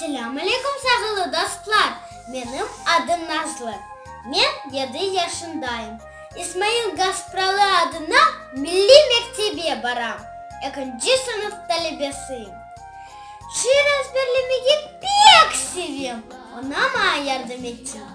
Selâm aleykum sağılı dostlar, menim adım Nazlı, men yedi yaşındayım. İsmail Gaspralı adına milliy mektebe baram, ekinci sınıf talebesiyim. Şiir ezberlemege pek sevem, onama yardım etim.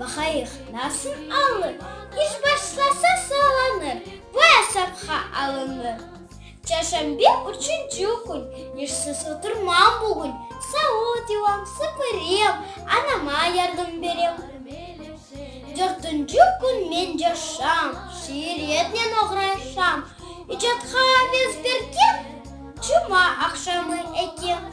Baqayıq, nasıl alır? İş başlasa sağlanır. Bu esapqa alınır. Çarşambe, üçünci kün. İşsiz oturmam bugün. Savut yuvam, süpürem, anama yardım berem. Dörtünci kün men coşam, şiir etnen oğraşam. İcatqa aves berkem, cuma aqşamı ekem.